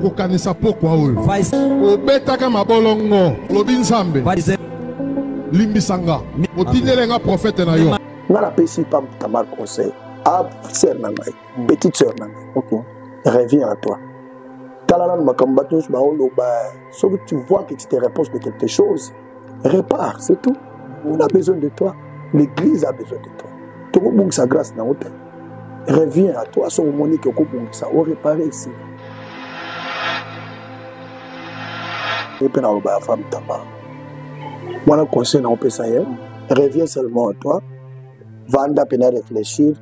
kokanisa pokwa oyo obetaka mabolongo lobi nzambe limbisa nga otindele nga profete na yo nga napesi pa tamar conseil a sœur na ngai petite sœur na ngai okay. reviens à toi tala nanu makambo bato nyonso baoloba soki tu vois que tu te repose de quelque chose repart c'est tout on a besoin de toi l'église a besoin de toi tokobungisa grâce na yo te reviens à toi soki omoni ke okobungisa orepare esi ye mpe naloba ya femme tamba wana conseil na opesa ye reviens seulement à toi vanda mpe na réfléchir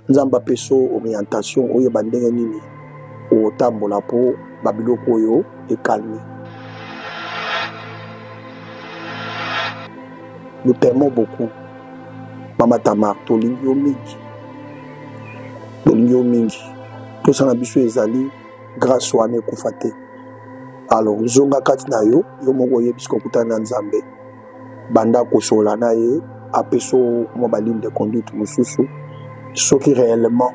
nzambe apeso orientation oyeba ndenge nini otambola mpo babiloko oyo ekalmi nous t'aimons beaucoup mama tamar tolingi yo mingi tolingi yo mingi mposa na biso ezali grâce wana ekufa te alors zonga kati na yo yo moko oyebi soki okutani na nzambe banda kosola na ye apesa mwa baligne de conduite mosusu soki réellement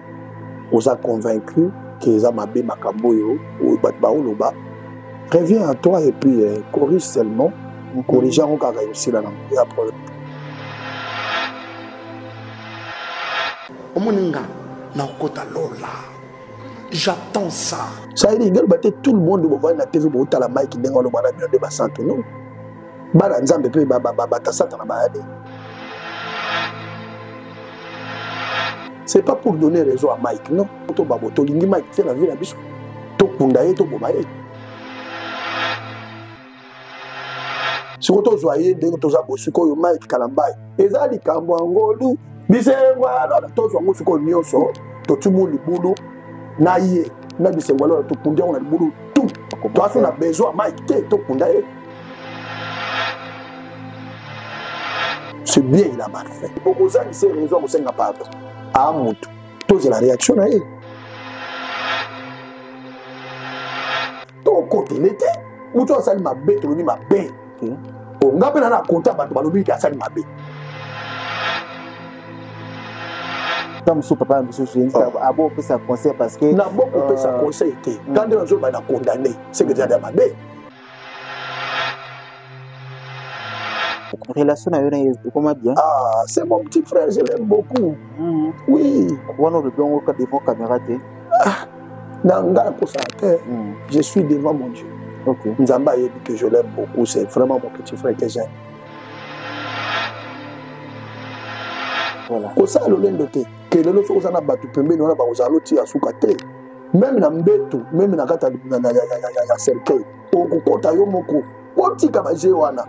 oza convaincu ke eza mabe makambo oyo oyo bato baoloba reviens à toi et puis eh, corrige seulement corrige yango kaka ekosila nango ya problème omoni nga nakokota lola j'attends ça saidi ngeloba te tout le monde bovandi na tv bootala mike ndenge aloba na bino nde basantu no bana nzambe mpe bata satana baya nini c'est pas pour donner raison à mike non to babo tolingi mike te na vie na biso tokunda ye toboma ye sikoyo tozwa ye ndenge toza bo sikoyo mike kalambai eza likambo ya ngolu bisengwalona tozwa ngo sikoyo nyonso totimu libulu na ye na bisengwalona tokundi yango na libulu tu toaso na besoin mike te tokunda ye c'est bien il a mal fait okozangi se raison akosenga pardon a motu tozela réaction na ye tokotele te motu asali mabe tolobi mabe hmm. onga mpe na na kota bato balobi ete asali mabe ntango mosusu papa na biso jésus ah. abo opesa conseil parce que na bokopesa euh, conseil te hmm. ntango nde nazoba na condamne seke ezali ya mabe relation na yo na yesu ekoma bien ah c'est mon petit frère je l'aime beaucoup mm. oui wana olobi yango ka devant caméra te ah, na ngai akosala te mm. je suis devant mon dieu okay. nzambe ayebi que je l'aime beaucoup c'est vraiment mon petit frère que j'aime voilà. kosala lolendo te ke lelo soki oza na bato pembeni wana bakozala lotiya suka te meme na mbeto meme na kati ya cercueil okokota yo moko otika baje wana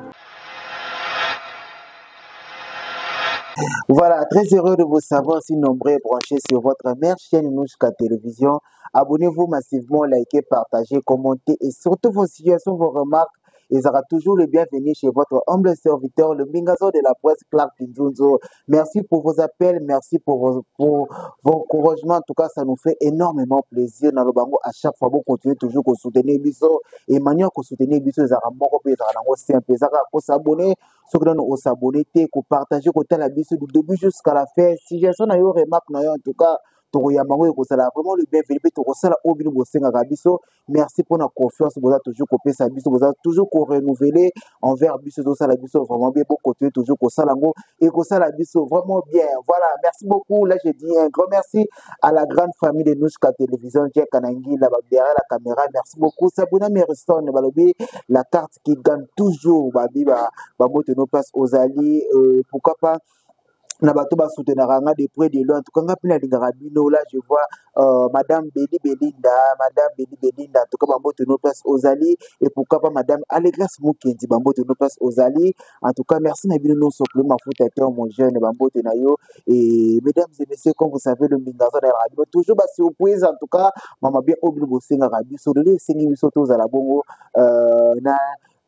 Voilà, très heureux de vous savoir si nombreux et branchés sur votre mère chaîne Nouchka Télévision. Abonnez-vous massivement, likez, partagez, commentez et surtout vos situations, vos remarques ezalaka toujours le bienvenu chez votre humble serviteur le mbingazo de la presse clark nzunzo merci pour vos appels merci pour vos, pour vos encouragements en tout cas ça nous fait énormément plaisir na lobango à chaque fois bocontinue toujours kosoutenir biso et manière kosoutenir biso ezalaka moko mpe ezalaka nango simple ezalaka kosabone soki nano osabone te kopartage kotala biso du début jusqu'à la fin suggestion na yo remarque na yo en tout cas tokoyamba yango ekozala vraiment le bienvenu mpe tokosala oyo bino bosengaka biso merci mpona confiance boza toujours kopesa biso boza toujours korenouveler envers biso ezosala biso vraiment bien bokontinue toujours kosala yango ekosala biso vraiment bien voilà merci beaucoup là je dis un grand merci à la grande famille de nushka télévision jack kanangila ba derrière la caméra merci beaucoup sabuna meriston balobi la carte qui gagne toujours babi bamoto no place ozali euh, pourquoi pas na bato ba soutenaka nga de près de loin en tout cas nga mpe nalingaka bino là je vois euh, madame Beli Belinda madame Beli Belinda en tout cas bambote no place ozali et pourquoi pas madame Allegrace Mukendi bambote no place ozali en tout cas merci na bino nonso pour mafuta te mon jeune bambote na yo et mesdames et messieurs comme vous savez le mbinga aza na yaka bino toujours ba surprise en tout cas mama bien oyo bino bosengaka biso lelo esengi biso tozala bongo euh, na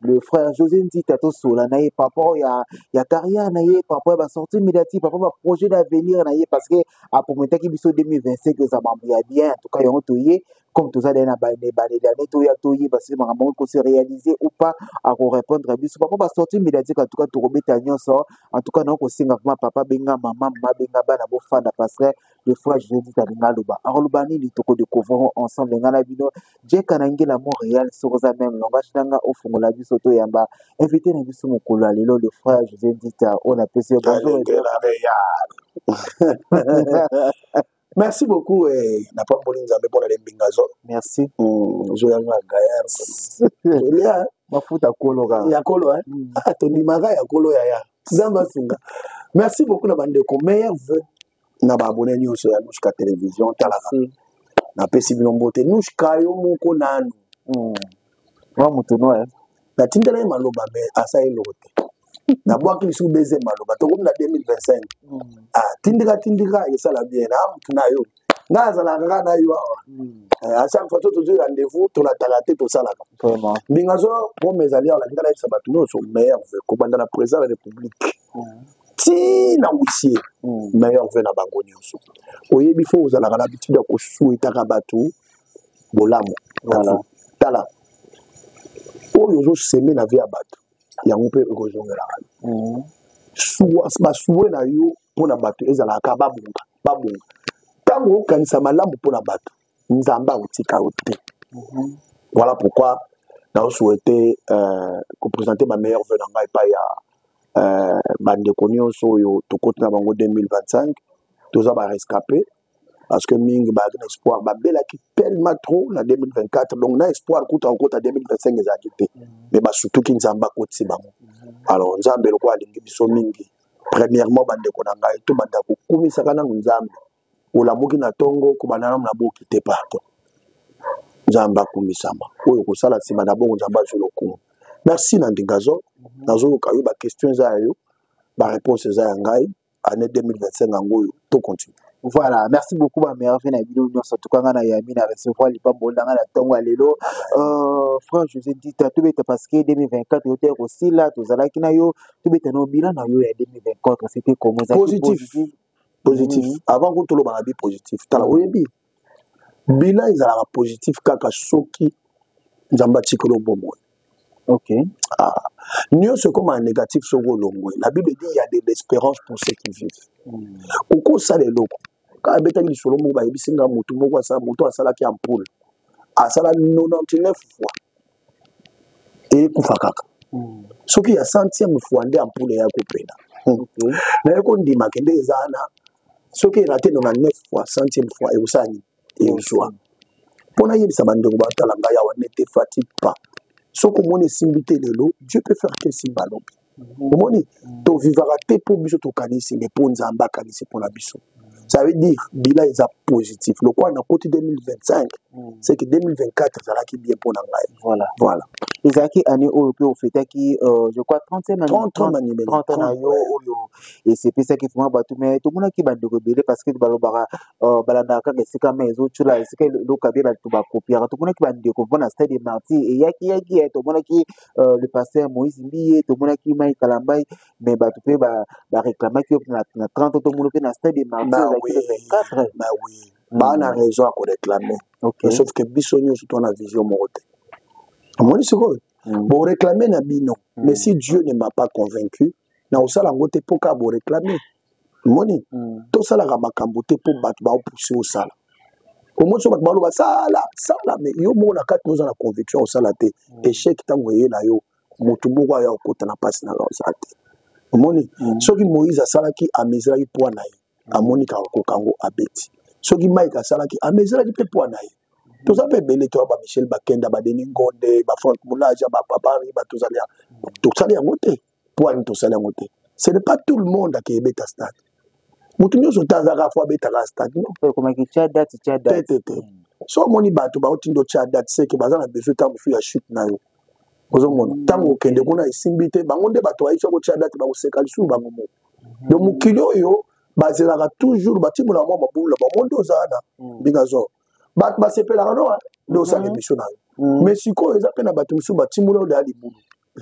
le frère José Nzita tosola na ye par rapport ya, ya carrière na ye par rapport ya basortie médiatique par rapport ya baprojet d'avenir na ye parce que aprometaki biso 2025 eza mambo ya bien en tout cas yango toye comme toza dai na banebalela ne toya toyeba soki makambo yango ekose réaliser ou pas akorépondre biso par rapport basortie médiatique en tout cas tokobeta nyonso en tout cas nao kosenga vraimen papa benga mama mama benga bana bofanda parce que de fois je dis alinga aloba akoloba nini toko découvrir ensemble nga na bino jeka na ngela montréal soki oza meme langage na nga ofungola biso toyamba invité na biso mokolo ya lelo le frère josé ndita oyo napesi yo bonjour merci beaucoup eh, napamboli nzambe mpo na lembinga zo merci hmm, ozoya nga gayar olia mafuta kolo ka ya kolo eh? hmm. ah, tondimaka ya kolo yaya nzambe asunga merci beaucoup na bandeko meilleur vœu na ba abonné nyonso ya Nushka Television talaka napesi bino mbote Nushka yo moko nanu hmm. mwa moto noir eh? natindela ye maloba me asali eloko te nabwaki lisusu beze maloba tokomi na 2025 hmm. ah, tindika tindika esala bien na motu na yo ngai azalaka kaka na yo awa hmm. eh, a chaque fois to tozwi rendez-vous tolataka te tosalaka mbinga zo pome ezali awa nakindala yebisa bato nyonso maire kobanda na président ya république ti na wisie hmm. meilleur ve na bango nyonso oyebi fo ozalaka na habitude ya kosuetaka bato bolamu tala oyo ozoseme na ve ya bato yango mpe ekozongelaka hmm. basue na yo mpo na bato ezalaka kaka babonga babonga ntango okanisa malamu mpo na bato nzambe akotika yo te mhm. voilà pourquoi naosouhaite euh, kopresente bameilleur veu na ngai epai ya euh, bandeko nyonso oyo tokoti na bango 2025 toza barescape parce que mingi bazalaki na espoir babelaki tellement trop na 2024 donc na espoir kuta kokota 2025 ezalaki te mais mhm. basutuki nzambe akotisi bango mhm. alors nzambe lokola alingi biso mingi premièrement bandeko na ngai tobanda kokumisaka nanu nzambe olamuki na ntongo kobanda nanu na boki te pardon nzambe akumisama oyo kosala nsima na bongo nzambe azwi lokumu merci na ndingazo nazoyoka yo baquestion eza ya yo bareponse eza ya ngai année 2025 yango oyo tocontinue Voilà, merci beaucoup ma mère vena bino nyonso tukanga na yami na recevoir lipambo ndanga na tongo ya lelo. Euh, franc José Dita tobeta parce que 2024 yote kosila tozalaki na yo tobeta na bilan na yo ya 2024 c'était comment positif. positif. positif mm -hmm. avant kutu olobaka bi positif tala mm -hmm. oyebi bilan ezalaka positif kaka soki nzambe atikeli obomoi ok ah. nyonso ekoma ya négatif soki olongwe la bible dit ya de l'espérance pour ceux qui vivent mm. okoki osala eloko kaka abetaki lisolo moko bayebisi nga motu moko asala motu asalaki ampoule asala 99 fois ekufa kaka hmm. soki ya centième fois nde ampule ya kopela hmm. naye kondima kende eza na soki erate 99 fois centième fois ekosala nini ekozwa hmm. mpo nayebisa bandeko batala ngai awa nete fatigue pas soki omoni esimbi te lelo dieu peut faire te esimba lobi omoni tovivaka te mpo biso tokanisi me mpo nzambe akanisi mpo na biso ça veut dire bila eza positif lokola nakoti 2025 c'est que 2024 ezalaki bien mpo na ngai voilà voilà ezalaki année oyo mpe ofetaki euh, je crois 30 na yo oyo esepesaki vraimen bato mai tomonaki bandeko ebele parce que balobaka euh, balandaka kaka esika mai ezotyola esika eloka bie bato bakopiaka tomonaki bandeko vraimen na stade de martyr eyaki yaki eh, tomonaki euh, le pasteur moïse mbiye tomonaki mai kalambai mais bato mpe bareklamaki yo na 30 tomono mpe na stade de marti ozalaki le 24 baa na raison ya koreklame sauf que biso nyonso to na vision moko te omoni sikoyo mm. boreklame na bino mm. mais si dieu ne m'a pas convaincu na kosala yango te mpo kaka boreklame moni mm. tosalaka makambo te mpo bato baopuse osala omoni so bato baloba sala sala me yo moko na kati oza na conviction ya kosala te mm. echec ntango eye na yo motu moko aya kokota na mpasi na oza te omoni mm. soki moïse asalaki ameziraki mpoa na ye mm. amoni kaka kokango abeti soki mike asalaki ameziraki mpe mpoa na ye toza mpe ebele toya ba michel bakenda badeni ngonde ba frank mulaja ba babari batozali tosali yango te poani tosali yango te ce n'est pas tout le monde akeye beta stade motu nyonso te azaka fo abetaka stade nontetete so omoni bato baotindo tya date seke baza na besoin ntango mosusu ya chute na yo ozomona ntango okende kuna esimbi te bango nde bato bayebisa kotya date bakoseka lisusu bango moko mhm. donc mokili oyo bazelaka toujours batimola mwa mabulu na bango nde oza na mhm. mbinga zoro bato basepelaka noa nde osala mhm. emission na yo mais sikoyo eza mpe na bato mosusu batimola oyo deya libulu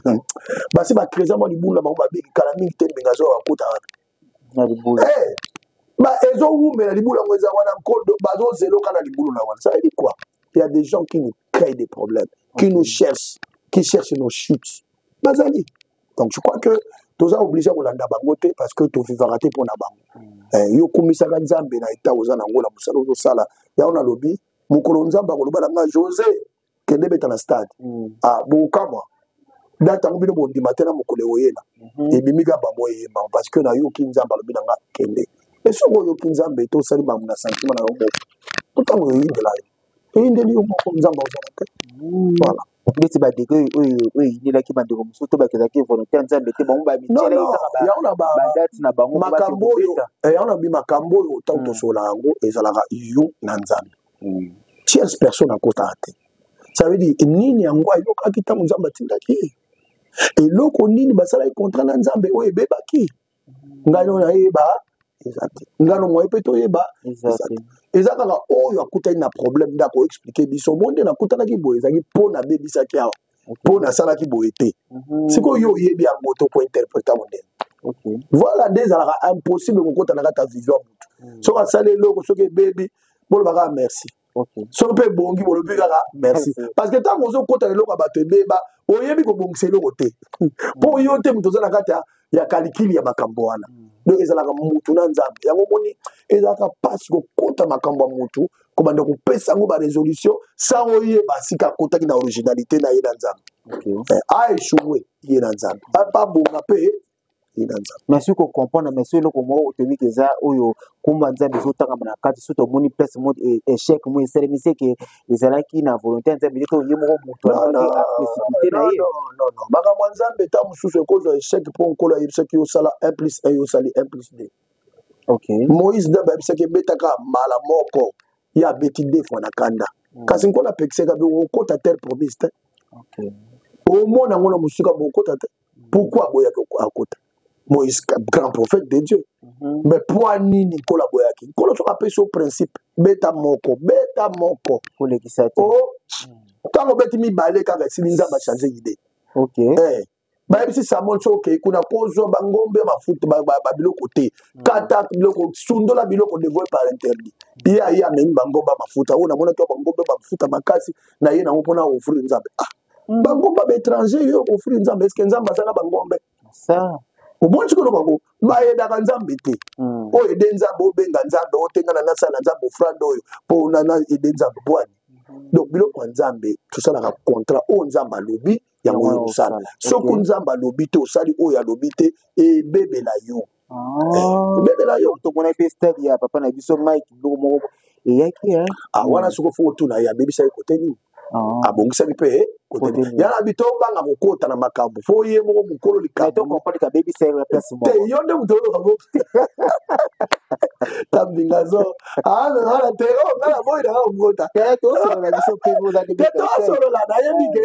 Hmm. basi bacresa mwa libulu na bango babeli kala mingi te mbenga azoya bakota wana eh, ezowumela libulu yango eza wana nkodo bazozeloka na libulu na wana sayebi quoi il y a des gens qui nous créent des problèmes qui nous cherchent qui cherchent nos chutes bazali donc je crois que toza oblige kolanda bango te parce que tovivaka te mpo na bango hmm. eh, yo okumisaka nzambe na eta oza na yango na mosala ozosala yango nalobi mokolo nzambe akoloba na ngai josé kende beta na stade mm. ah, bokokamwa date yango bino bondima te na mokolo ewoyela mhm. ebimi kaka bango eyema parce que nayoki nzambe alobi na nga kende e soki oyoki nzambe te osali makambo na santima na yo moko ntango oyindela yo eyindeli yo moko nzambe ozala te mm. voilà ndeti bandeko oyo eyinelaki bandeko mosusu to bakezaki volontaire nzambe te bango bamityelakadate na bango makambo oyo eh, yango nabi makambo oyo ntango mm. tosola yango ezalaka yo na nzambe mm. tierce personne akotaka te ça veut dire nini yango ayokaki ntango nzambe atindaki ye eloko nini basalaki contrat na nzambe oyo ebebaki ngai oyo nayeba eza te ngano moye mpe toyeba eza te eza kaka oyo akutani na problème nde akoexplike biso mo nde nakutanaki boye ezalaki mpo nabebisaki awa mpo nasalaki boye te mhm. sikoyo yo oyebi yango to kointerpreta mondele voilà nde ezalaka impossible kokota na kati ya vision ya motu mhm. soki asali eloko soki ebebi bolobaka ah, merci soki mpe ebongi bolobi kaka merci parce que ntango ozokota na eloko ya bato ebeba oyebi kobongisa eloko te mpo yo te moto oza na kati ya ya kalikili ya makambo wana mm. donc ezalaka mutu na nzambe yango omoni ezalaka mpasi kokota makambo ya mutu kobanda kopesa yango baresolution sans oyeba sika akotaki na originalité na ye na nzambe okay. eh, aechoue ye na nzambe abonga mpe ye na nzambe mais soki kocomprendre mais soki eloko moko otomiki eza oyo kumba nzambe ezotangama na kati soki tomoni place mo e, échec mo esalemisi eke ezalaki na volonté ya nzambe te to ye moko moto alobaki aprecipite na ye makambo ya nzambe ta mosusu ekozwa echec mpo nkolo ayebisaki osala 1 plus 1 yo osali 1 plus 2 okay. moïse nzambe ayebisaki ebetaka mbala moko ye abeti de fois na kanda mm. kasi nkolo apekisaka bi okota terre promise te okay. omona yango na mosika bokota te pourquoi aboyaki akota moïse grand prophète de dieu mm -hmm. mais poi nini nkolo aboyaki nkolo soki apesi yo principe beta moko beta moko kolekisa te o oh, ntango obeti mibale kaka esili nzambe achange idee okay. eh. bayebisi samuel soki okei kuna kozwa bangombe mafuta babiloko te mm. kata biloko sundola biloko devoe par interdit ye aye amemi bangombe mafuta oyo namonaki bangombe mafuta makasi na ye nango mpona ofrir nzambe ah bangomba baétranger yo okofuli nzambe eske nzambe aza na bangombe omoni sikoyo bango bayedaka nzambe te hmm. oyo ede nzambe obenga nzambe otengana nasala nzambe ofrande oyo mpo nana ede nzambe bwani hmm. donc biloko ya nzambe tosalaka contrat oyo nzambe alobi yango oyo tosala soki nzambe alobi te osali oyo alobi te ebebela yo kobebela yo tomonaki mpe stade ya papa na biso mike biloko moko eyaki ah, wana soki ofo otuna ye abebisa ye kote nini ah. abongisaki mpe eh, yala bito obanga kokota na makambo fo ye moko mokolo likambote yo nde moto oyokango tambingazo aaa te o ngala boyi nanga kokota te tosolola na ye mike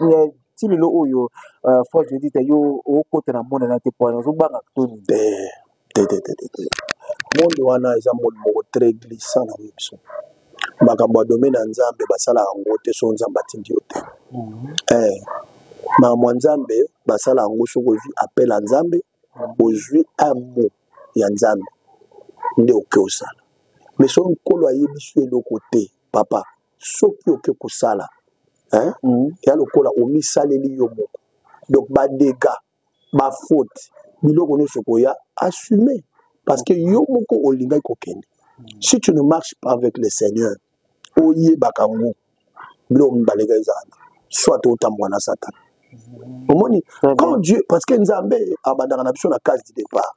Eh, ti lelo oyo euh, fois je dis yo okota na monde na te po nazobanga toni te te te te te monde wana eza monde moko très glissant na biso makambo ya domaine ya nzambe basalaka yango te so nzambe atindi yo te mhm. eh, makambo ya nzambe basala yango soki ozwi appel ya nzambe mhm. ozwi un mot ya nzambe nde oke osala mais soki nkolo ayebisi yo eloko te papa soki oke kosala hein? Mm. ya lokola omisaleli yo moko donc badega bafaute biloko nyonso koya assume parce que yo moko olingaki kokende si tu ne marche pas avec le seigneur oyebaka ngo biloko mibale ka ezala soit otambwa na satana omoni quand dieu parce que nzambe abandaka na biso na case du départ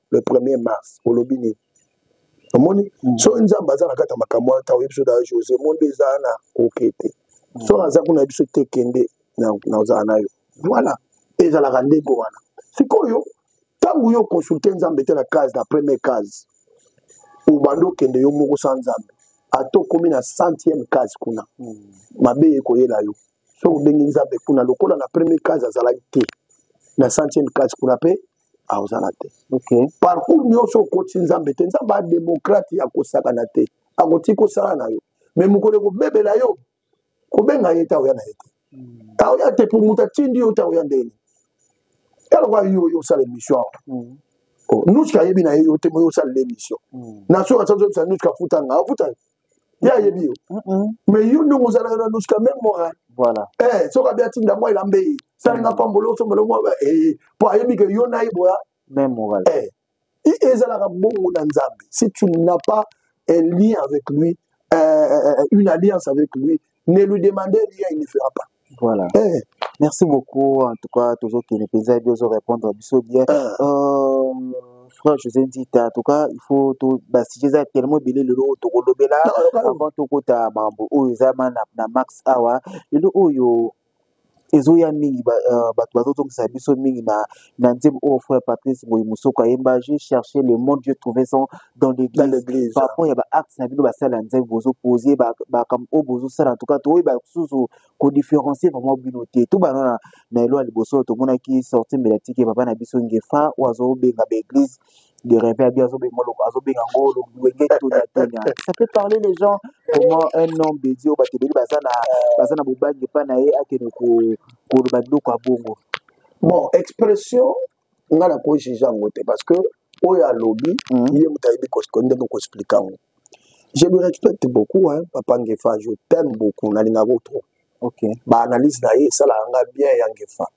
le 1er mars olobi nini omoni mm. so nzambe aza na kati ya makambo wana ntango oyebi so daa josé mondo eza na oke te mm. so aza kuna biso te kende nazala na yo voilà ezalaka ndenge wana sikoyo ntango yo okonsulte nzambe te na case na premier case obandi okende yo moko sa nzambe ata okomi na centième case kuna mm. mabe ekoyela yo so obengi nzambe kuna lokola na premier case azalaki te na centième case kuna mpe akozala te okay. parcour nyonso okoti nzambe te nzambe ademokrate ya kosakana te akotii kosala na yo me mokolo ekobebela yo kobenga ye ta oya na ye te hmm. ta oya te po moto atindi yo ta oya ndeni eloko ayo oyo osala emission awa hmm. oh, nuska ayebi na ye yo te moyo osalela emission hmm. na soki asazoyebisa nuska afuta nga afuta ye ayebi yo mais yo ndongo ozalaka na luska meme moral voilà eh soki abi atinda mwa elamba eye salinga pambolo osombolo mwa eh mpo ayebi ke yo na ye boya meme moral eh ezalaka bongo na nzambe si tu n'as pas un lien avec lui euh, une alliance avec lui ne lui demandez rien il ne fera pas voilà eh. merci beaucoup en tout cas tozokende mpenza ebi ozo répondre biso bien ah. euh, frère josé nzita en tout cas il faut basujet eza tellement ebele lelo oyo tokolobela avant tokota mambo oyo eza na max awa lelo oyo ezoya mingi euh, bato bazozongisa biso mingi na, na nzembo oyo frère patrice boye mosoko ayemba je cherché le monde je trouvé son dans l'église par rapport ya baacte na bino basala ya nzembo bozopose bakambo oyo bozosala ntuka toyeba susu kodifferencie vraiment bino te to bana na elwa liboso tomonaki sorti mbelatike papa na biso ngefa oyo azobenga baeglise de rêver à bien azobenga ngo wenge tonya tonya ça peut parler les gens comment un homme de dieu bato ebele baza na baza na bobangi epai na ye akende koloba biloko ya bongo bon expression ngai nakojuge yango te parce que oyo alobi mhm. ye moto ayebi ndenge koexplike yango je le respecte beaucoup hein, papa ngefa je t'aime beaucoup nalingako trop okay. baanalyse na ye esalaka ngai bien ya ngefa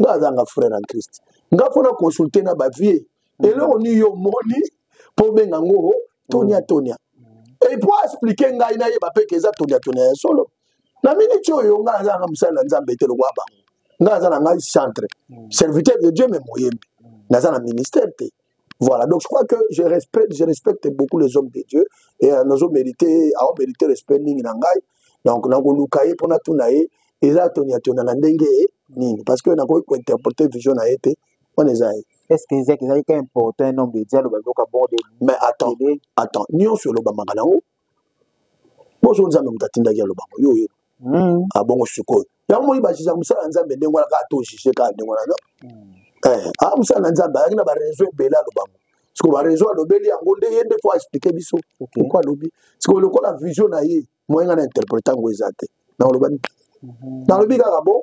nga aza nga frère en christ nga mpo na consulte na bavie mm. eloko nini yo omoni mpo obenga ngo tonia mm. tonia epo explike ngai nayeba mpe ke eza tonia tonia ya solo na miniti oyo nga aza nga mosali na nzambe te lokola bango nga aza na ngai centre mm. serviteur de dieu me moyembi naza na ministère te Voilà, donc je crois que je respecte, je respecte beaucoup les hommes de Dieu et euh, nous avons mérité, avons mérité respect mingi na ngai. Donc na koluka ye pona tuna ye eza tonia tona na ndenge nini parce que na ko interpréter vision na été on est aïe. Est-ce que Isaac ezali ka important un homme de Dieu aloba loka bon de Mais attends, attends, nionso oloba makanango bozo nzambe moto atindaki aloba ngo yo oyebi hmm. abongo ah, sikoyo yango moi bajija mosala ya nzambe ndenge wana kaka to jije kaka ndenge wana no hmm. eh, a ah, mosala na nzambe ayaki na barezo ebele aloba ngo sikoyo barezo alobeli yango nde ye nde fo aexplike biso pourkoi alobi sikoyo lokola vision na ye moyenga na interprete yango eza te nakoloba nini mhm. nalobi kaka bo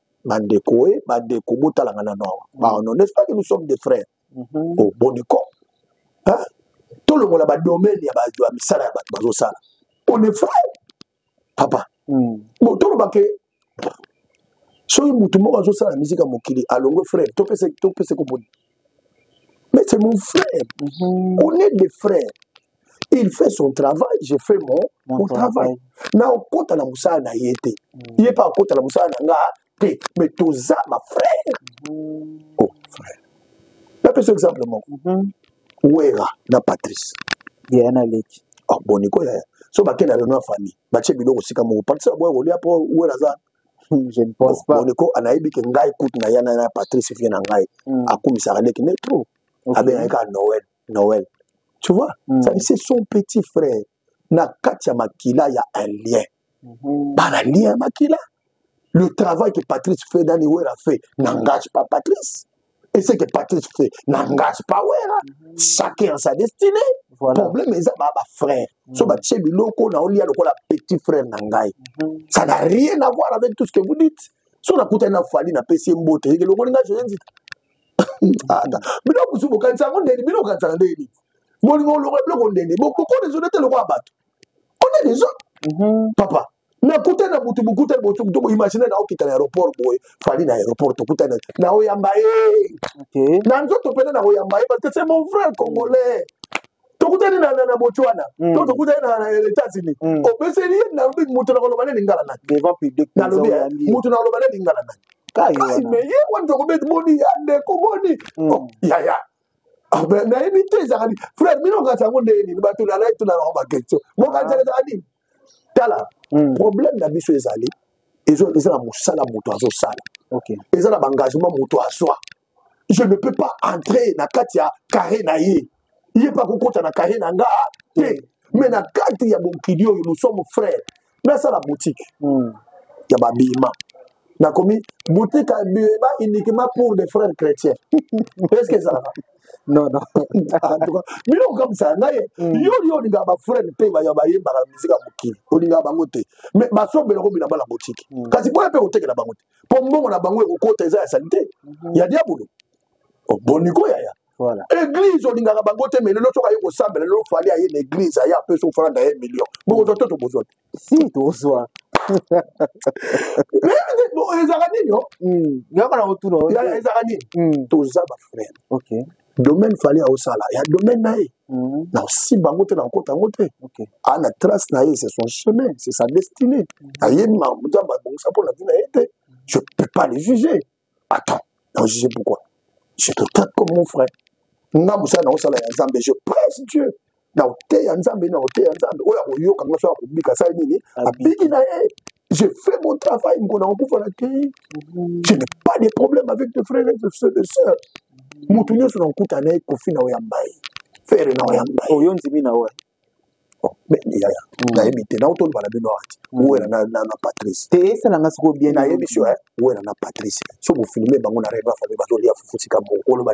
Bandeko e, bandeko botala nga nano awa. Ba non, n'est-ce pas que nous sommes des frères? Mhm. Oh, boniko. Hein? Tolongola ba domaine ya ba misala ya bato bazosala. On est frères. Papa. Mm. Bon, toloba ke soki motu moko azosala miziki ya mokili alongwe frère topesa topesa ko boni mais c'est mon frère mm -hmm. on est des frères il fait son travail je fais mon, mon, mon travail na okota na mosala na ye te mm. ye mpe akota na mosala na nga te mais toza bafrère mm. oh frère napesa exemple moko mm -hmm. wera na patrice ye na leki oh, boni koya so bakei na reno ya famille batie biloko sika moko patrice aboya kolia mpo wera aza hmm, je ne pense pas boniko anayebi ke ngai kutu na yana na patrice vie na ngai hmm. akumisaka leki ne trop abengaki kaka noel Noël. Tu vois mm. Ça c'est son petit frère. Na kati ya makila ya un lien. Mm -hmm. Bana lien ya makila. Le travail que Patrice fait dans les Wera fait n'engage pas Patrice. Et ce que Patrice fait n'engage pas Wera. Mm -hmm. Chacun a sa destinée. Voilà. Problème eza ba ba frère. Mm -hmm. So ba tshie biloko na olia lokola petit frère na ngai. Mm -hmm. Ça n'a rien à voir avec tout ce que vous dites. So na kuta na fali na pesi mbote. Yeke lokola nga je dis ata bino kusu bokanisa yango ndeni bino bokanisaka ndeni bolingo olongo biloko ndeni bokokona ezo nete lokola bato ona dezo mhm. papa nakuta na butu bokuta botu to boimagine na okita na aéroport boye fali na aéroport tokuta na na oyamba ye na nzoto pena na oyamba ye parce que c'est mon frère congolais tokutani na, na, na botswana mm. to tokutani na, na états-unis mm. opeseli ye nalobi moto na koloba ne lingala nani nalobi eh, moto na koloba ne lingala nani kasi me ye wani tokobeti boni ya ndeko boni mm. oh, yaya ah, nayebi te ezalaka nini frère bino okanisa yango ndenge nini bato nalai tunanango baquestion mokanisa ah. ezalaka nini tala mm. problème na biso ezali eza na mosala moto azosala eza na baengagement moto azwa je ne peux pas entrer na kati ya carré na ye ye mpe akokota na carré na nga te mais na kati ya mokili oyo nous sommes frères nasala boutique mm. ya babima nakomi boutique ya bima uniquement pour les frères chrétiens est ce que ezalaka non non en tout cas bino okamisa ngai yo yo olingaka bafrene mpe baya bayembaka miziki ya mokili olingaka bango te mais basombelaka obina bana botiki kasi boya mpe kotekela bango te mpo mbongo na bango ekokota eza ya salite mhm. ya diabolo oh, boniko yaya Voilà. Église olingaka bango te mais lelo soki aye kosambela lelo fali aye na église aye apesi ofala na ye million bokozwa to tokozwa te si tozwa ezalaka nini o ezalaka nini toza bafrere domaine fali aosala ya domaine na ye mhm. naosimba yango te nakokota yango te aa na trace na ye c'est son chemin c'est sa destinée mhm. ayebi makambo abongisa mpo na vie na ye te je peux pas le juger attends naojuge pourquoi je te traite comme mon frère nga mosala naosala ya nzambe je presse dieu na oteya nzambe na oteya nzambe oyo akoyoka nga so akobika asali nini abiki na ye je fais mon travail ngona okufa na te je n'ai pas de problème avec tes frères et tes sœurs moto nyonso na okuta na ye kofi na oyamba ye fere na oyamba ye oyo ndimi na wa yaya mm. nayebi te naotoloba na bino ati mm. wela na patrice te esala nga sikoyo bien nayebi sio wela na patrice so bofilme bango na reba fami bazolia fufu sika mokoloba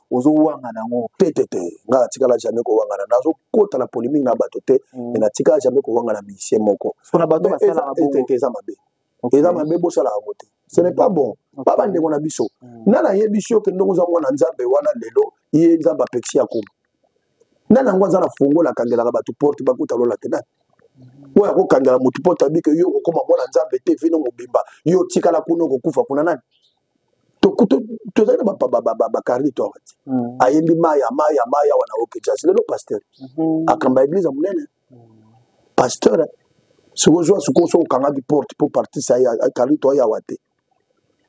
ozowangana yango te te te nga natikala jamais kowangana nazokota na polémique na bato te mm. me natikala jamais kowangana musicien moko eza mabe eza mabe bosalaka yango te ce n'est pas bon ba bandeko na biso mm. nani ayebisi yo kende oza mwana nzambe wana lelo ye nzambe apekisi ya koma nani yango aza na fongola akangelaka bato porte bakuta lola te nani mm. oyo akokangela motu mpo tabi ke yo okokoma mwana nzambe te vino mobimba yo otikala kuna okokufa kuna nani tozali na bacarni tore te mm. ayembi maya maya maya wana okejaz lelo pasteur mm-hmm. akamba eglise ya monene mm. pasteur soki ozwa sikoyo soki okangaki porte mpo partise carni tore yawa te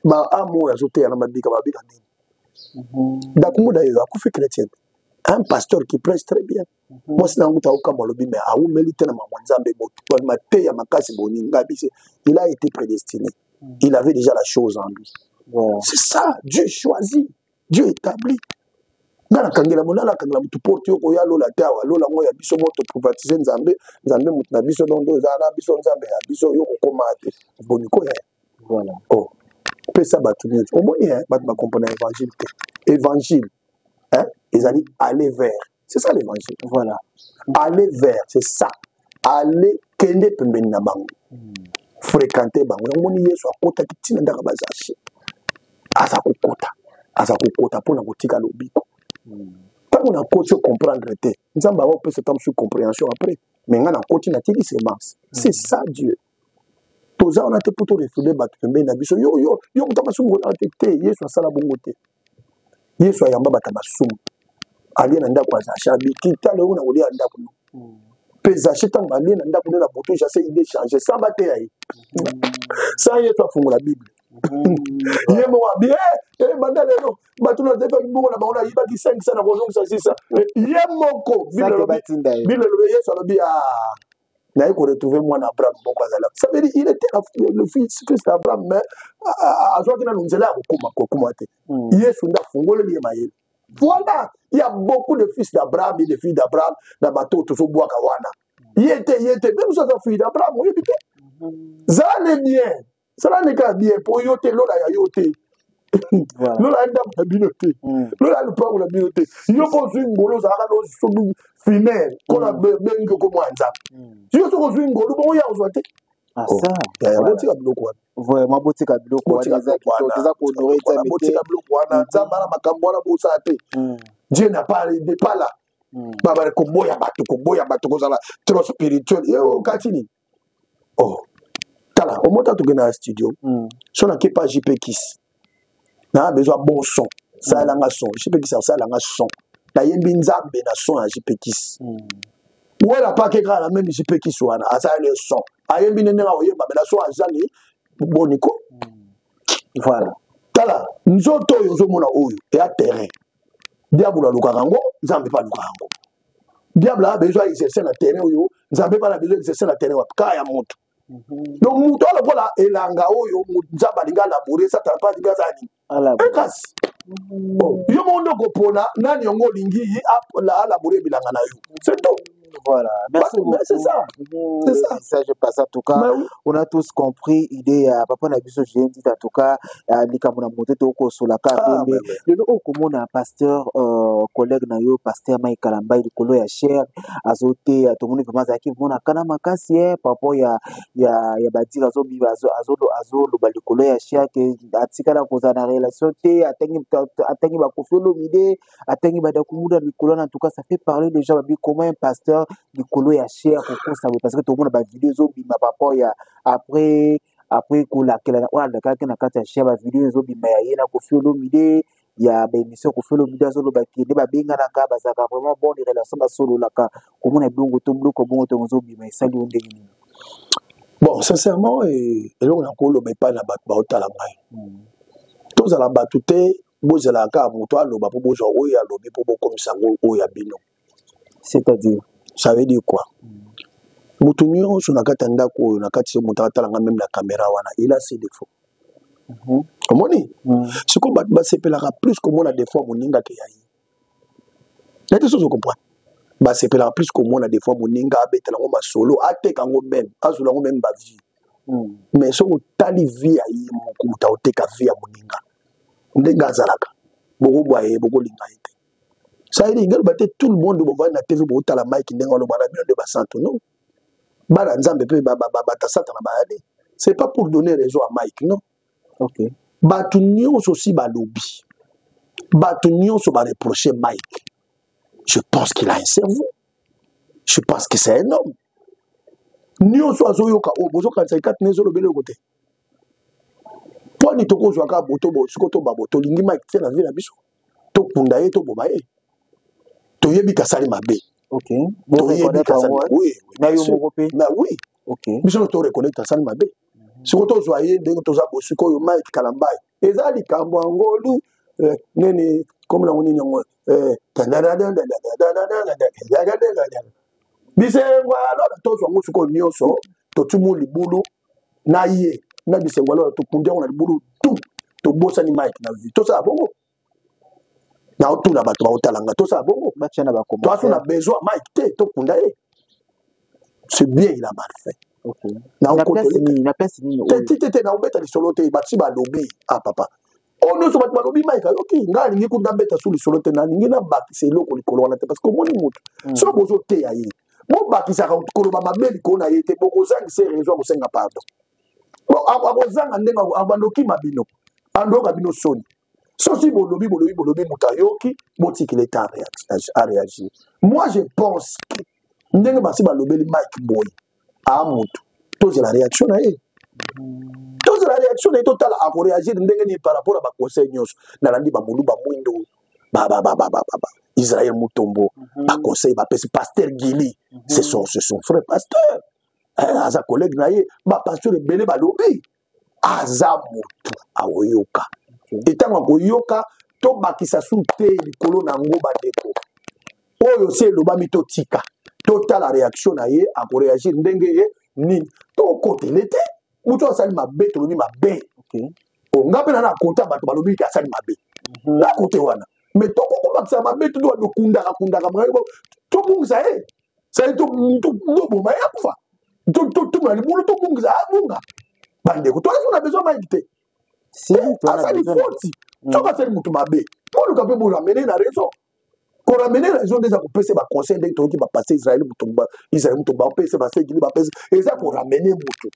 baamo oyo azoteya na mabika babika nini mm-hmm. dakumbuda yeyo akufi chrétienne un pasteur qui prêche très bien mwasi na yango kuta okamwa alobi me awumeli te na mama nzambe moto mateya makasi boninga bise il a été prédestiné il avait déjà la chose en lui wow. c'est ça dieu choisit dieu établit nga nakangela mo nakangela motu porte yo koya lola te awa lola yango ya biso mo toprivatise nzambe nzambe motu na biso dondo eza na biso nzambe ya biso yo kokoma te boni koya voilà. oh. pesa bato nyonso omoni bato bakomprena évangile te évangile ezali aller vers c'est ça l'évangile voilà aller vers c'est ça aller kende pembeni na bango hmm. fréquente bango yango moni yesu akotaki ntina ndaka bazashe aza kokota aza kokota mpo na kotika lobiko hmm. ntango nakoti ocomprendre te nzambe awa opesa ta mosusu comprehension après me ngai nakoti natiki semence hmm. c'est ça dieu toza wana te mpo torefule bato pembeni na biso yo yo yo moto akasumu te te yesu asala bongo te yesu ayamba bato ya masumu alie na ndako ya zache abiki tala oyo na kolia ya ndako no mpe hmm. zache ntango alie na ndako nde na boto jase ide change sa bateya ye hmm. sa yesu afungola bible hmm. ye moko abi eh, eh, banda lelo bato na tefa mbongo na bango nayibaki 5 sa na kozongisa 6 sa eh, ye moko bible elobi yesu alobi a ah, naye ko retrouver mwana abraham moko azala ça veut dire il était le fils fils d'abraham mais azwaki nanu nzela ya kokoma kokoma te hmm. yesu nde afungoleli ye mayele voilà il y a beaucoup de fils d'abraham et de filles d'abraham na bato tozobwaka wana ye te ye te mpe mosu aza fille d'abraham oyebi te zala ne bien sala ndeka ya bien mpo yo te lola ya yo te lola ya ndako na bino te mm. lola ya lopango na bino te yo mpo ozwi ngolo ozalaka nosobi fimele nkona mm. bengi oko mwa nzambe mm. yo soki ozwi ngolo bongo ya kozwa te ah, oh. eh, botika biloko wana vraiment botika biloko wana eza kitoko eza kohonore nzambe te botika biloko wana mm-hmm. nzambe ana makambo wana bosala te dieu na pas de pas là babale koboya bato koboya bato kozala trop spirituel yo okati nini oh tala omota toke na studio mm. so nake pa jp kisi naa besoin bon son salela nga son jp kisi asalela nga son nayembi nzambe na son ya jp kisi mm. wela pake kaka na meme jp kisi wana asaleli son ayembi nde ndenge akoyemba me na son azangi boniko mm. voilà tala nzoto oyo ozomona oyo eya terrain diabolo alukaka yango nzambe mpe alukaka yango diable a besoin ya exercer na terrain oyo nzambe bana besoin exercer na terrain wapi kaa ya moto mhm. donc moto oyo lokola elanga oyo nzambe alingi alaboure satana mpe alingi aza nini ekasi mhm. yo moko nde okopona nani yango olingi ye alaboure bilanga na yo c'est tout Voilà, merci bah, beaucoup. C'est ça. C'est ça. Ça, je passe en tout cas. Bah, oui. On a tous compris l'idée à Papa Nabiso Géndit en tout cas. ah, likambo na moto te okosola ka ah, tembe lelo oyo komona pasteur euh, collègue na yo pasteur mai kalambai likolo ya chere azoteya tomoni vraimen azalaki vraimen na kana makasi e papo ya ya ya badire azobiba azoloba likolo ya chere ke atikala kozala na relation te atangi bakofi olomide atangi badakumuda likolo na tout cas ça fait parler les gens babi comment un pasteur likolo ya chere kokosa boye parce que tomona bavideo ezobima papo ya après après kolakela oyo alakelaki na kati ya chien bavideo ezobima ya ye na kofi olomide ya baémission kofi olomide azoloba ke nde babenganaka bazalaka vraiment bon de relation basololaka komona ebongo to bloko bongo to ozobima esali yo ndenge nini bon sincèrement eh, eloko na koloba epai na bato baotala ngai hmm. tozala bato te bozalaka kaka moto aloba mpo bozwa oyo alobi mpo bokomisa yango oyo ya bino c'est-à-dire ça veut dire quoi moto nyonso na kati ya ndako oyo na kati moto akatala nga meme na caméra wana il a ses défauts mhm. omoni mhm. sikoyo bato basepelaka plus komona défaut ya moninga ke ya ye na te sozo comprendre basepelaka plus komona défaut ya moninga abetela yango masolo ateka yango meme azwela yango meme bavie mhm. mais soki otali vie ya ye moko moto aoteka vie ya moninga ndenge azalaka bokobwa ye bokolinga ye te sali nini ngaloba te tout le monde bovandi na tv botala mike ndenge aloba na bino nde basantu non bana nzambe mpe bata satana bayade c'est pas pour donner raison à mike non okay. bato nyonso osi balobi bato nyonso bareproche mike je pense qu'il a un cerveau je pense que c'est un homme nyonso azoyoka oyo bozokanisa ekati na ezolobela eloko te twani tokozwa kaka boto siko to babo tolingi mike te na vie na biso tokunda ye toboma ye toyebi kasali mabe toyebi kasali mabe biso toreconnecte asali mabe siko tozwa ye ndenge toza bosikoyo mike kalambai eza likambo ya ngolu eh, nini kombo nango nini yango eh, bisengo ya lola tozwa yango sikoyo nyonso totimu libulu na ye na bisengo ya lola tokundi yango na libulu tu tobosani mike na vie tosala bongo naotuna bato baotala nga tosala bongo toaso na besoin mike te tokunda ye c'est bien il a mal fait tete naobeta lisolo te basi balobi a ah, papa oyo oh, nyonso bato balobi maika yoki ngai alingi kuta beta su lisolo te nalingi nabakisa eloko likolo wana te parce que omoni motu hmm. soki bozoteya ye bobakisaka koloba mabe likolo na ye te bokozangisa rezo ya kosenga pardon akozanga ndenge abandokima bino andoyoka bino soni soki bolobi bolobi bolobi moto ayoki botikela ete areagir moi je pense que ndenge basi balobeli mike boye a moto tozela réaction na ye tozela réaction na ye totala akoreagir ndenge nini par rapport ya baconseil nyonso nalandi bamolu bamwindo israel mutombo mhm. baconseil bapesi paster gili mhm. ce sont frère pasteur aza collègue na ye bapasteur ebele balobi aza motu akoyoka te ntango akoyoka tobakisa su te likolo na yango bandeko oyo se elobami totika totala reaction na ye akoreagir ndenge ye nini tokotele te motu asali mabe tolobi mabe onga mpe na na kota bato balobi ete asali mabe mhm. na kote wana me tokokobakisa mabe todokundaka kundaka tobungisa ye sali toboma ye akufa totuna libulu tobungisa abunga ah, bandeko toyesu na besoin mike te asali foti soki mm. asali motu mabe boluka mpe boramene na raison koramene na raison nde eza kopesa baconseil ndenge toyoki bapase israel mutumba israel mutumba bapese basegini bapese eza koramene motu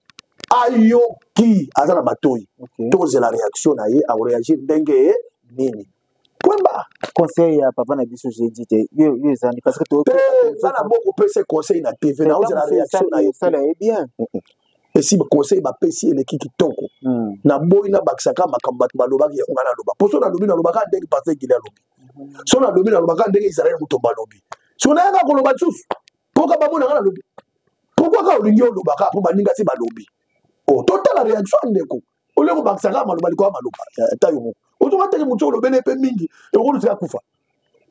ayoki aza na matoi tozela réaction na ye akoreagir ndenge nini Kwemba. conseil ya papa na biso j'ai dit te yo yo ezandi parce que to za na boko pese conseil na TV na oza na réaction na yo sala est bien esi conseil ba pesi eleki kitoko hmm. na boyi na bakisa ka makambo bato balobaki ya ngana loba poso na lobi na loba ka ndenge pasteur Gilles alobi hmm. so na lobi na loba ka ndenge Israël Mutomba alobi so na yanga koloba lisusu po ka bamona ngana lobi pourquoi ka olingi oloba ka po baninga si balobi oh totala réaction ndeko olie kobakisa kaka maloba likolo ya maloba eh, ta yo moko ozoka teke motu olobeli ye mpe mingi ekolutika kufa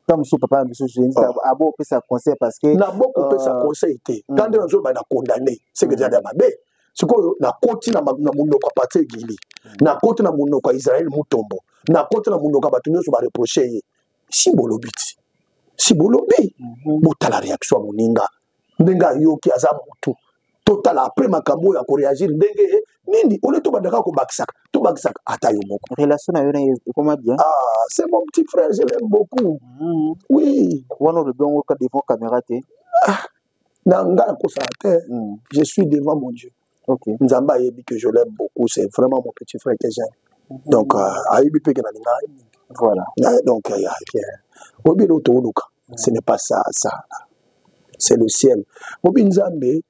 ta mosusu papa na biso jensi ah. abo opesa conseil parce que na boko opesa euh, conseil te mm. ta nde nazoba na condamne seke ezali ya mabe sikoyo nakoti na monoko ya patie gili mm. nakoti na monoko ya israel mutombo nakoti na monoko ya bato nyonso bareproche ye si bolobi ti si bolobi mhm. botala réaction ya moninga ndenge ayoki aza mutu totala après makambo oyo akoreagir ndenge eh, nini ole tobandaka kobakisaka tobakisaka ata yo moko relation na yo na ekoma bien ah c'est mon petit frère je l'aime beaucoup mm. oui wana olobi yango ka devant caméra te ah, na nga nakosala te mm. je suis devant mon dieu okay. nzambe ayebi que je l'aime beaucoup c'est vraiment mon petit frère que j'aime mhm. donc euh, ayebi mpe ke nalinga ye mingi voilà euh, donc euh, ya rien oyebi eloko tokoluka mhm. ce n'est pas ça ça c'est le ciel oyebi nzambe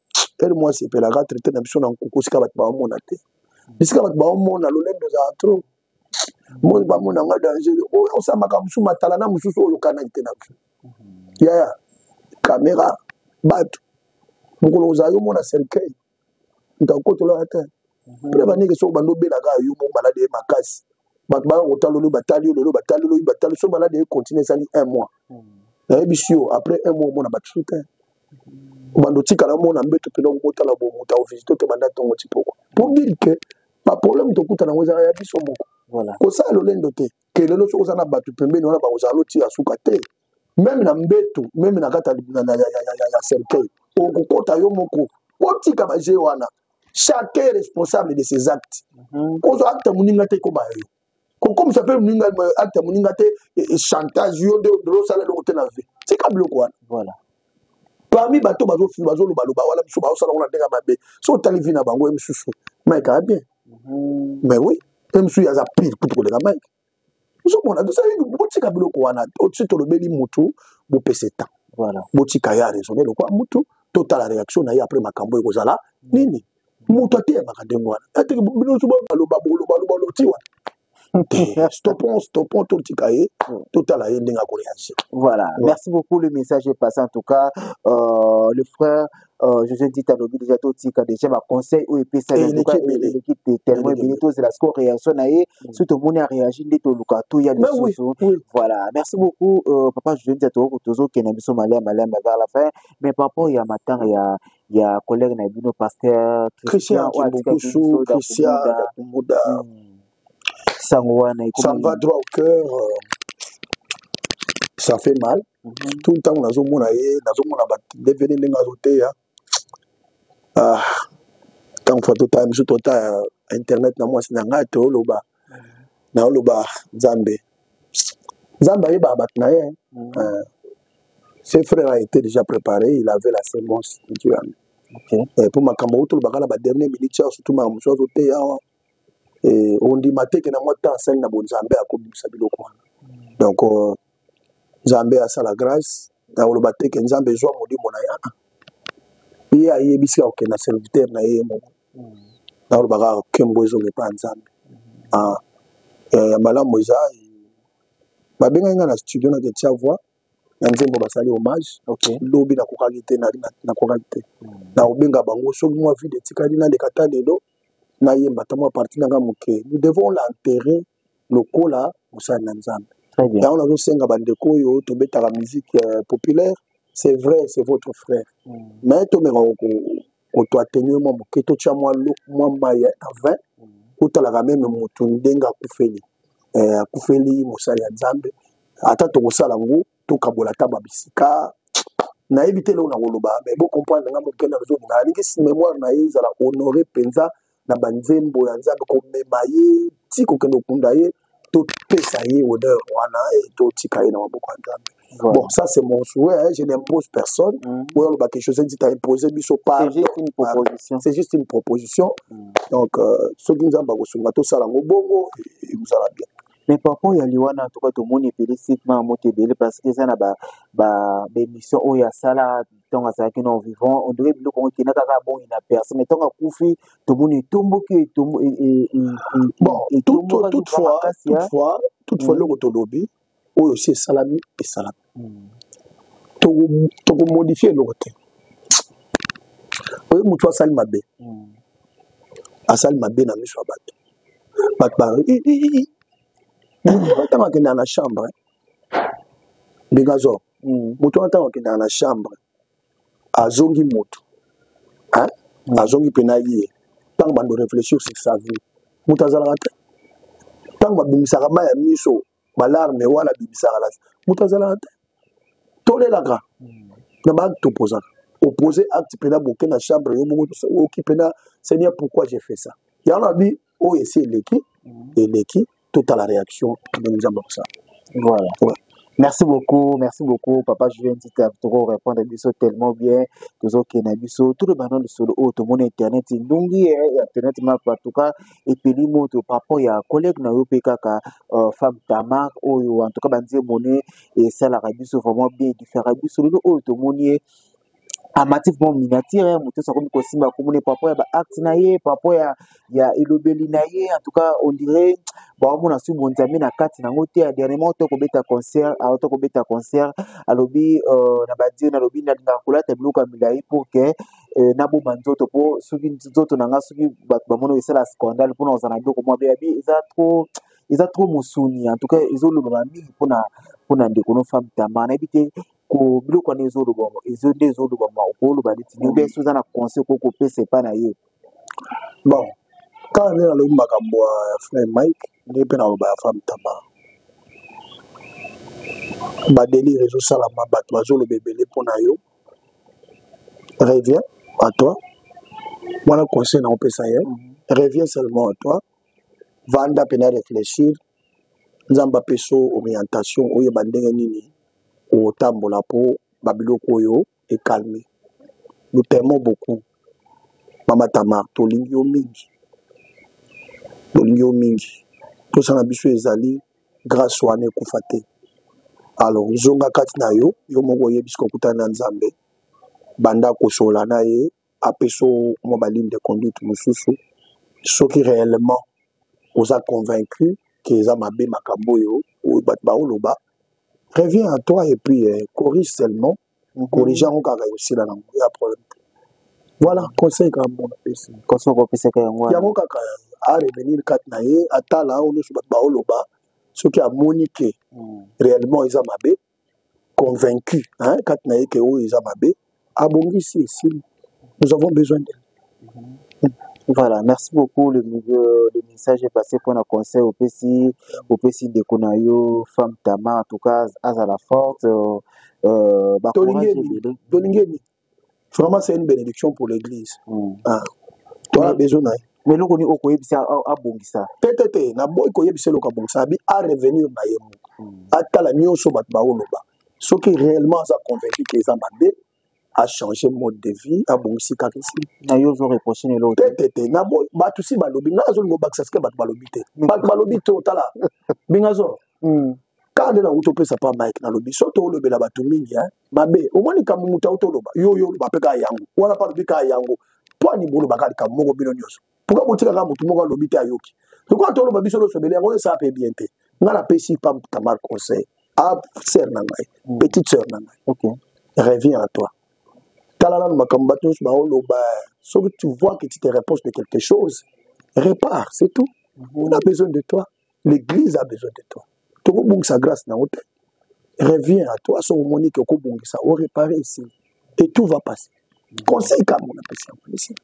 ere mwasi epelaka traite na biso na nkuku sika bato baomona te bisika bato baomona lolendo ozala trop moni bamona nga danger oyo osala makambo mosusu matala na mosusu oyo okanaki te na vie yaya kamera bato mokolo kozala yo mona cercueil moto akotolaka te mhm. mpe na bandenge soko bando obelaka yo moko maladi ye makasi bato baya kotala olobi batali yo lelo batali olobi batali so maladi ye continue esali un mois mhm. nayebisi yo après un mois omona batu te obanda otikala mona mbeto mpena okobotala bo moto akovisite te banda ntongo tipoko pour dire que baproblème tokutana yango ezala ya biso moko kosala lolendo te ke lelo soki oza na bato pembeni wana bakozala lotiya suka te meme na mbetu meme na kati ya cercueil okokota yo moko otika baje wana chacun responsable de ses actes mhm. kozwa acte moninga te ekoma yo kokomisa mpe moninga acte ya moninga te e, e, chantage yo nde osala eloko te na vie tika biloko wana voilà parmi bato bazolobaloba wana biso baosala ngo na ndenge ya mabe so otali vi na bango ye mosusu mike aa bien mhm. mais oui ye mosusu ye aza pire kutu koleka mike ozomona botika biloko wana osi tolobeli motu bopese temps botika ye aresone lokwa motu totala réaction na ye après makambo ekozala nini moto ateyamaka ndenge wana ateke bino nso baloba boloba loba loti wana stopon stopon totika ye totala ye ndenge akoreagir voilà ouais. merci beaucoup le message est passé en tout cas euh, le frère euh, josé dit alobi déjà totika déjà baconseil oyo epesaeleki tellement ebele tozela siko réaction na ye mm. soki tomoni aréagi nde toluka toya lisusu voilà merci beaucoup euh, papa josé dit atoko tozokenda biso malia malia vers la fin mais par rapport ya matanga ya ya collègue na bino pasteur Christian Kimbukusu Christian Dakumbuda hmm. sango wana ekomi ça va droit au cœur euh, ça fait mal mm -hmm. tout ntango nazomona ye nazomona badevele ndenge azoteya ah ntango fa tota biso tota internet na mwasi na ngai toloba naoloba nzambe nzambe ayebaka bato na ye mm. eh, ce frère a été déjà préparé il avait la semence ntu yango eh, mpo makambo oyo tolobaka na badernier minute awa surtout makambo mosusu azoteya awa eh, ondima teke na mwa temps asali na bonzambe akobimisa biloko wana mm. donc euh, nzambe asala grace na koloba te ke nzambe ezwa molimo na yana ye ayebisi akokenda serviteur na ye moko na koloba kaka kembo ezonga epa ya nzambe ah, eh, ya malamu eza babengaki ngai na studio na ketia voix na nzembo basali hommage lobi nakokaki te nakokaki te nakobenga bango soki mwa vide etikali naleka ta lelo nayemba ata mwa parti na ngai moke nous devons l'enterrer lokola mosali na nzambe Très bien. yango nazosenga bandeko oyo tobetaka musique euh, populaire c'est vrai c'est votre frère mais tomeka kotoa tenue mwa moke totya mwa lo- mwa mai ya na 20 otalaka meme motu ndenge akufeli Eh, akufeli mosali ya nzambe ata tokosala yango tokabola ata ba bisika nayebi te eloko nakoloba me bocomprendre nga mokenda nazolinga alingi memoire na ye ezala honore mpenza na banzembo ya nzambe komema ye ti kokende okunda ye topesa ye honneur wana e totika ye na maboko ya nzambe Voilà. Bon, ça c'est mon souhait, hein. je n'impose personne. Mm. Ou alors, bah, quelque chose dit à imposer, lui, sauf pas. C'est juste une proposition. C'est juste une proposition. Mm. Donc, euh, ceux qui nous ont tout ça, là, au bongo, et vous allez bien. Mais par rapport ya liwana en tout cas tomoni epele site ma moto ebele parce que eza na ba ba émission oyo asala ntango azalaki na vivant on dirait biloko yango ekenda kaka abongi na perse mais ntango akufi tomoni etomboki etomboki toutefois eloko tolobi oyo si esalami esalami tokomodifie eloko te oyo motu asali mabe hmm. asali mabe na miso ya bato bato ba ntango akendaka na chambre ndekazo hmm. motu wana ntango akendaka na chambre azongi motu hmm. azongi mpena ye ntango bando réfléchir sur sa vie moto azalaka te ntango babimisaka mai ya miso balarme wana bimisaka na moto azalaka te tolelaka hmm. na baacte opozaka opose acte mpena boke na chambre yo moko oyoki mpena seigneur pourquoi j'ai fait ça yango nabi oyo esi eleki hmm. eleki totala réaction ndenge nzambe akosala voilà ouais. Merci beaucoup, merci beaucoup, papa Julien Tita, toko répondre biso tellement bien, tozo kena biso, tout le banon de solo, oh, tout le monde internet, ndungi, eh, internet, ma, en tout cas, epeli moto par rapport ya collègue na yo mpe kaka uh, femme tamar oyo en tout cas banzembo ne esalaka biso vraiment bien edifaka biso lelo oyo tomoni ye amati mpo miniatire ya moto akomi kosimba komona par rapport ya baacte na ye par rapport ya, ya elobeli na ye en tout cas on dirait baomona soki bonzambe na kati na yango te ya dernièrement to kobeta concert ah, to kobeta concert alobi euh, na badio nalobi nalingaka kolata biloko ya milai pour que eh, nabomba nzoto mpo soki nzoto na ngai soki bato bamoni esala scandale mpona ozala na biloko mwa beyabi eza trop eza trop mosuni en tout cas ezolobama mingi mpona mpona ndeko no femme tama nayebi te ko biloko wana ezolobama ezo nde ezolobama okoloba neti nini obe soki oza na conseil okoki kopesa epai na ye bon kaka nde nalobi makambo ya frère mike nde mpe naloba ya femme tama badelire ezosalama bato bazoloba ebele mpo na yo reviens à toi wana conseil na opesa ye reviens seulement à toi vanda mpena réfléchir nzambe apesa orientation oyeba ndenge nini otambola mpo babiloko oyo ekalme nous t'aimons beaucoup mama tamar tolingi yo mingi tolingi yo mingi mposa na biso ezali grace wana ekufa te alors zonga kati na yo yo moko oyebisi kokutana na nzambe banda kosola na ye apesa mwa baligne de conduite mosusu soki réellement oza convaincu ke eza mabe makambo oyo bato baoloba reviens à toi et puis eh, corrige seulement corrige yango kaka ekosila na yango ya problème te voilà conseil kaka mona pesi conseil okopesaka yango wana yango kaka arevenir kati na ye atala oyo nyonso bato baoloba soki amoni ke hmm. réellement eza mabe convaincu hein, kati na ye ke oyo eza mabe abongisi esili nous avons besoin de Voilà, merci beaucoup. Le, le, le message est passé pour un conseil au PC, au PC de Konayo, femme Tama, en tout cas, Azala forte. Euh, euh, bah, Tolingeni, vraiment, c'est une bénédiction pour l'Église. Mm. Ah. Toi, oui. besoin d'ailleurs. mais eloko nini okoyebisa abongisa te te te naboyi koyebisa eloko abongisa abi a revenir na ye moko hmm. atala nyonso bato baoloba soki réellement aza convaincu ke eza mabe a changer mode de vie abongisi kaka esi na yo ozo reproche na eloko te te te na bo bato si balobi nga azolinga obakisa sike bato balobi te bato balobi te otala bingazo hmm. kaka nde nauti opesa pa mike nalobi so toolobela bato mingi eh, mabe omoni kambo moto auti oloba yo yo oloba mpe kaka yango wana mpe alobi kaka yango mpo ani boloba kaka likambo moko bino nyonso pourquoi botika kaka motu moko alobi te ayoki lokola toloba biso nyonso ebele yango esala mpe bien te ngai napesi pam tamar conseil a ah, sœur na ngai mm. petite sœur na ngai okay. reviens à toi tala nanu makambo bato nyonso baoloba soki tu vois que tu te reproche de quelque chose repars c'est tout mm-hmm. on a besoin de toi l'église a besoin de toi tokobungisa grâce na yo te reviens à toi soki omoni ke okobungisa orepare ici et tout va passer conseil kaka mona pesi yango ici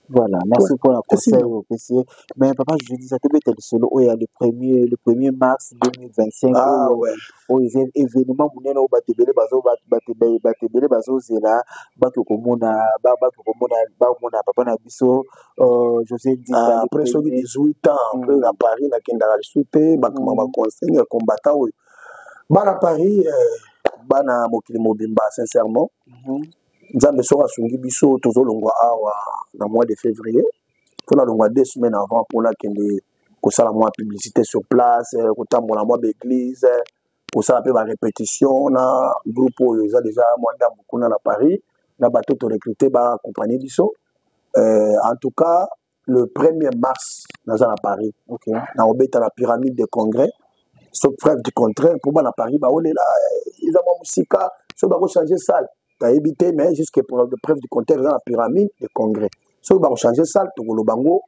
voilà merci mpo na conseil oyo opesi ye mais papa judisa tobeta lisolo oyo ya le premier le premier mars 2025 ah, oyo ouais. oyo eza événement monene oyo bato ebele bato ebele bazozela bato komona bato komona bakomona papa na biso Oh, ah, après soki 18 ans hmm. après na paris nakendaka lisusu te bakoma baconseil ya combattant oyo bana paris eh, bana mokili mobimba sincèrement mhm. nzambe soki asungi biso tozolongwa awa na mois de février mpo nalongwa deux semaines avant mpo nakende kosala mwa publicité sur place eh, kotambola mwa baeglise eh, kosala mpe barepetition na groupe oyo eza deja mwa ndambo kuna na paris na bato torecrute baakompagne biso euh, en tout cas le 1er mars naza na paris okay. na obeta na pyramide de congrès so preuve du contraire mpo bana paris baolela eh, eza mwa mosika soki bakochange salle tayebi te mais jusque preuve du contraire eza na pyramide de congrès soki bakochange salle tokoloba yango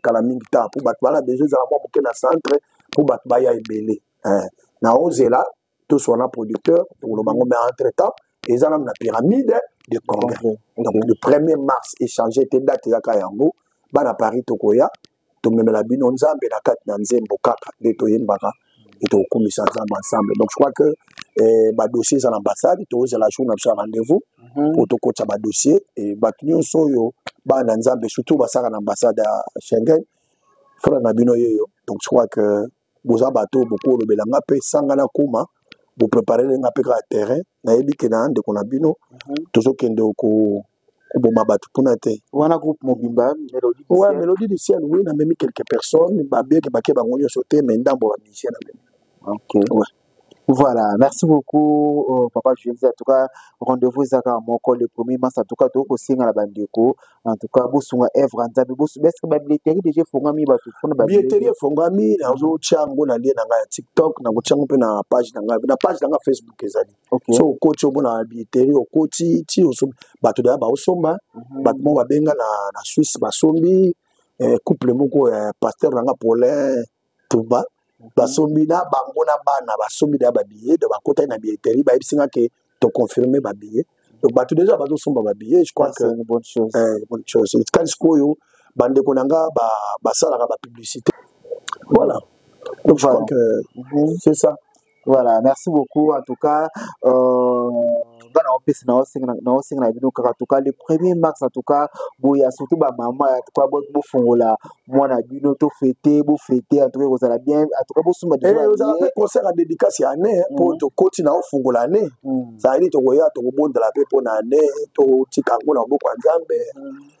kala mingi ta mpo bato bana besoin ezala mwa moke na centre mpo bato baya ebele eh, na ozela toswa na producteur tokoloba ngo mais entre temps eza nanu na pyramide de congrès donc le premier mars échange te date ezaka yango bana paris tokoya tomemela bino nzambe na kati na nzembo kaka nde toyembaka e tokokumisa nzambe ensemble donc je crois que eh, badossier eza na ambassade tozela jour na biso ya rendez-vous mpo mm -hmm. tokotisa badossier e bato nyonso oyo bana na nzambe surtout basaka na ambassade ya schengen frère na bino yeyo donc je crois que boza bato oyo bokoki kolobela nga mpe sanga na koma bopreparele nga mpe kaka terrain nayebi ke na ndeko na bino mhm. tozokende ko koboma bato kuna te wana groupe mobimba wa melodie du ciel wi namemi quelques personnes babeke bake bango nyonso te mai ndambo bamisien namemi okay. ouais. Voilà, merci beaucoup euh, papa Jules. En tout cas, rendez-vous ezaka à mon col le premier mars. En tout cas, toko singa la bandeko. En tout cas, bosunga Evra Nzabi bosu best ba billetterie déjà fongami ba tout fona ba billetterie fongami na zo chango na lien na nga TikTok na ko chango pe na page na nga na page na nga Facebook ezali. Okay. So ko cho bona billetterie o ko ti ti o so ba to da ba osomba mhm. ba mo ba benga na na Suisse ba sombi eh, couple moko eh, pasteur na nga Paulin Tumba basombi na bango na bana basombi na babillet donc bakotaki na billetterie bayebisi nga ke toconfirme babillet donc bato deja bazosomba babillet je crois que une bonne chose eh, bonne chose etikali sikoyo bandeko na nga basalaka ba bapublicité voilà donc voilà. je crois que mm -hmm. c'est ça Voilà, merci beaucoup. En tout cas, euh, bana opesi na osenga na osenga na bino kaka tout cas le premier mars en tout cas boya surtout ba maman en tout cas bo bo fongola mwana bino to fete bo fete en tout cas kozala bien en tout cas bo suma déjà eh ozala pe concert à dédicace ya année hein, pour mhm. to koti na ofungola année mhm. ça dit to koya to kobondela pe pona année to tika ngo na boko ya Nzambe mhm.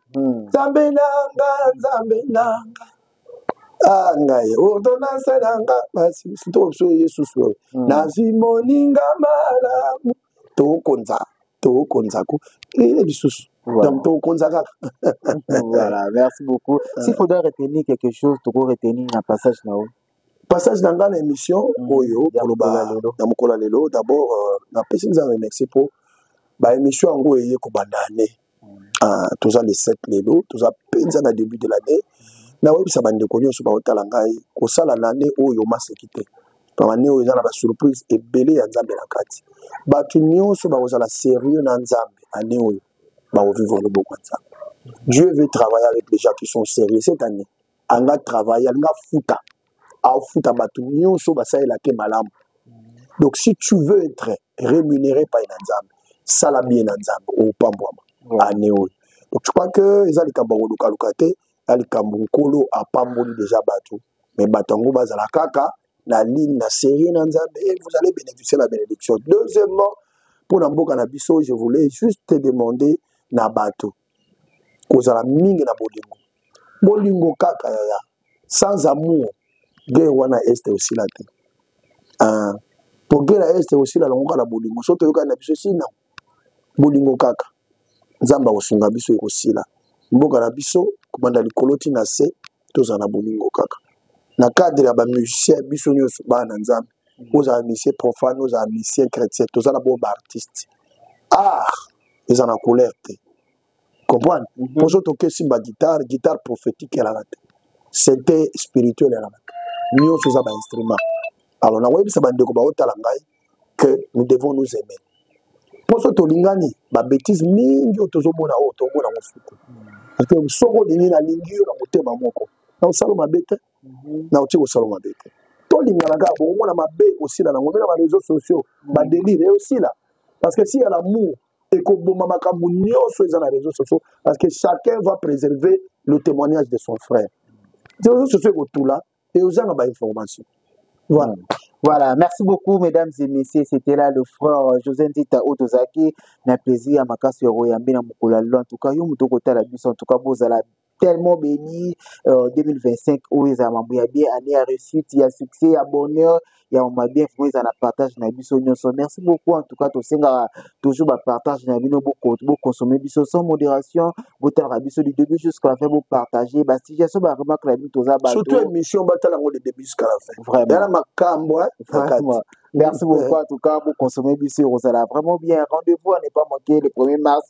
Hmm. nzambe nanga nzambe nanga ah, ngai ordonance nanga basimusutokobiso yesus oyo hmm. nazwi moninga malamu tokonza tokonzako eye lisusu donc tokonza kaka voilà merci beaucoup euh. s'il faudra retenir quelque chose toko retenir na passage na yo passage na ngai na émission hmm. oyo koloba na mokolo ya lelo d'abord euh, napesi nzambe merci mpo baémission yango eye kobanda ane ah, toza le 7 lelo toza mpenza na début de l'année nakoyebisa bandeko nyonso baotala ngai kosala na ane oyo maseki te ane oyo eza na basurprise ebele ya nzambe na kati bato nyonso bakozala sérieux na nzambe ane oyo bakovivre loboko ya nzambe dieu veut travailler avec les gens qui sont sérieux cette année anga travaille alinga afuta afuta bato nyonso basalela te malamu donc si tu veux être rémunéré pai na nzambe sala bien na nzambe opambwama ane oyo donc je crois que eza likambo ya kolukaluka te ya likambo nkolo apamboli deja bato me bato yango bazala kaka na ligne na serie na nzambe et vous allez bénéficier la bénédiction deuxièmement mpo na mboka na biso je voulais juste te demander na bato kozala mingi na bolingo bolingo kaka yaya sans amour guerre wana este osila te ah, po guerre ya este osila longo kaka na bolingo so toyokani na biso sina bolingo kaka nzambe akosunga biso ekosila mboka na biso kobanda likolo ti na se tozala na bolingo kaka na cadre ya bamusicien biso nyonso bana na nzambe ozala musicien profane ozala musicien chrétien toza na bomba artiste art eza na couleur te comprendre mhm. poso tokesi baguitare guitare prophétique elaka te sente spirituel elaka te nyonso eza bainstrument alors nakoyebisa bandeko baotala ngai que nous devons nous aimer mposo tolingani babétise mingi oyo tozomona oyo tomona mosuku mpe soki olingi nalingi yo na motema moko na osalo mabe te mhm. na otie kosalo mabe te tolingana kaka bokomona mabe ekosila nango mpe na bareseau sociaux mhm. badelire eyosila parce que si ya lamour ekoboma makambo nyonso eza na réseau sociaux parce que chacun va préserver le témoignage de son frère réseau sociaux ekotula et oza na ba information voilà mm. Voilà, merci beaucoup mesdames et messieurs, c'était là le frère euh, José Ndita Otozaki, na plaisir makasi ya koyambe na mokolo ya lelo. En tout cas, yo moto kotala biso, en tout cas bozala tellement béni euh, 2025 oyo ezala mambo ya bien année ya réussite ya succès ya bonheur ya ma bien vraiment eza na partage na biso nyonso merci beaucoup en tout cas tosengaka toujours ba partage na bino boconsommer biso sans modération botalaka biso du début jusqu'à la fin bopartage ba situation ba remarque na bino toza bato surtout émission batala yango de début jusqu'à la fin vraiment yana makambo vraiment merci beaucoup en tout cas boconsommer biso ekozala vraiment bien rendez-vous à ne pas manquer le 1er mars